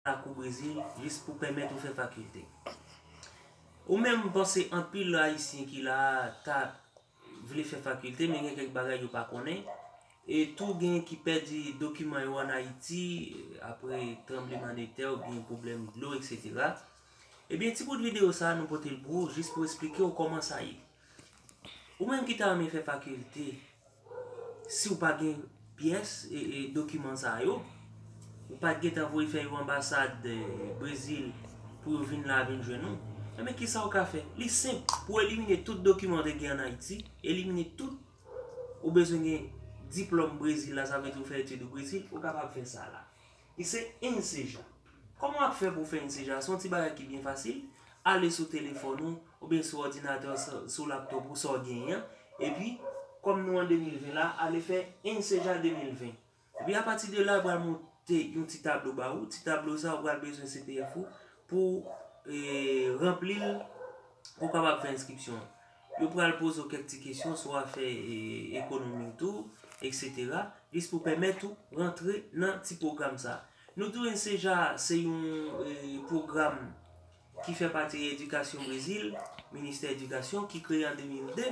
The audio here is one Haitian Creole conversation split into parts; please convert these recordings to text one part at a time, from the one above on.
ak ou Brezil jis pou pèmèt ou fè fakilte. Ou menm m panse anpil ayisyen ki la a ta vle fè fakilte men gen kèk bagay yo pa konnen e tou gen ki pèdi dokiman yo an Ayiti apre tranbleman de tè oubyen pwoblèm dlo eksetera. Ebyen ti bout videyo sa a nou pote l pou ou jis pou esplike ou kòman sa ye. Ou menm ki ta renmen fè fakilte, si ou pa gen pyès dokiman sa yo, ou pa t gen tan voye fè yo anbasad Brezil pou yo vin la vin jwenn ou, enben ki sa ou ka fè? Li senp, pou elimine tout dokiman ou te gen an Ayiti, elimine tout, ou bezwen gen diplòm Brezil la, sa vle di ou fè etid ou Brezil, ou kapab fè sa la. Li se yn seja. Kòman wap fè pou w fè yn seja? Se yon ti bagay ki byen fasil, ale sou telefòn ou, oubyen sou òdinatè w, sou laptop ou, sa w genyen an, epi kòm nou an 2020 la, ale fè yn seja 2020. Epi apati de la yo pral monte yon ti tablo ba ou, ti tablo sa ou pral bezwen CPF ou pou w ranpli l pou w kapab fè enskripsyon an. Yo pral poze w kèk ti kesyon sou afè ekonomi w tou, eksetera, jis pou pèmèt ou rantre nan ti pwogram sa. Nou tou enseja se yon pwogram ki fè pati edikasyon Brezil, ministè edikasyon, ki kreye an 2002.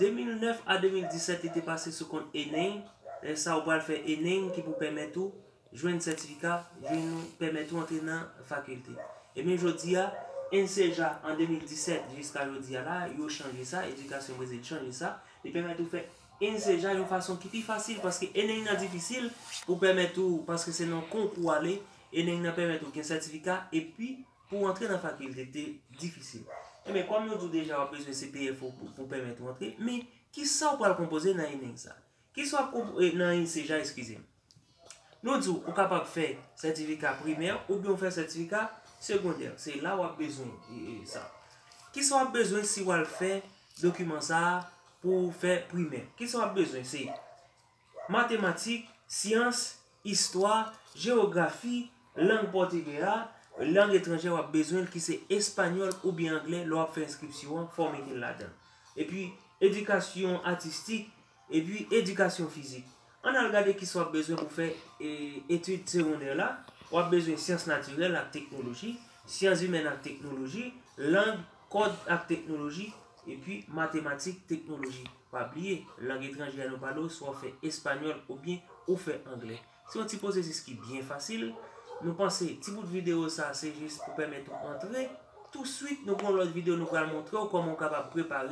2009 a 2017 li te pase sou kont ENEM, lè sa ou pral fè ENEM ki pou pèmèt ou Jwenn sètifika jwenn ou pèmèt ou antre nan fakilte. Ebyen jodi a, enseja an 2017 jiska jodi a la, yo chanje sa, edikasyon Brezil chanje sa, li pèmèt ou fè enseja yon fason ki pi fasil paske eneng nan difisil pou pèmèt ou paske se nan yon konkou ou ale, eneng nan pèmèt ou gen sètifika epi pou w antre nan fakilte te difisil. Ebyen kòm nou di w deja w ap bezwen CPF ou pou pèmèt ou antre, men kisa ou pral konpoze nan eneng sa? Kisa w ap konpoze nan enseja eskize m. Nou di w ou kapab fè sètifika primè oubyen ou fè sètifika segondè. Se la w ap bezwen sa. Kisa w ap bezwen si w al fè dokiman sa a pou w fè primè? Kisa w ap bezwen? Se matematik, syans, istwa, jewografi, lang pòtigè a, lang etranjè w ap bezwen l ki se espanyòl oubyen anglè lè w ap fè enskripsyon an, fòm ekri l ladan. Epi edikasyon atistik. Epi edikasyon fizik. Ann al gade kisa w ap bezwen pou fè etid segondè la, w ap bezwen syans natirèl ak teknoloji, syanzimèn ak teknoloji, lang, kòd ak teknoloji, epi matematik, teknoloji. Pa bliye, lang etranje a nou pale w, swa w fè espanyòl oubyen ou fè angle. Se yon ti pwosesis ki byen fasil. Nou panse ti bout videyo sa se jis pou pèmèt ou antre. Touswit nou gen yon lòt videyo nou pral montre w kòman ou kapab prepare.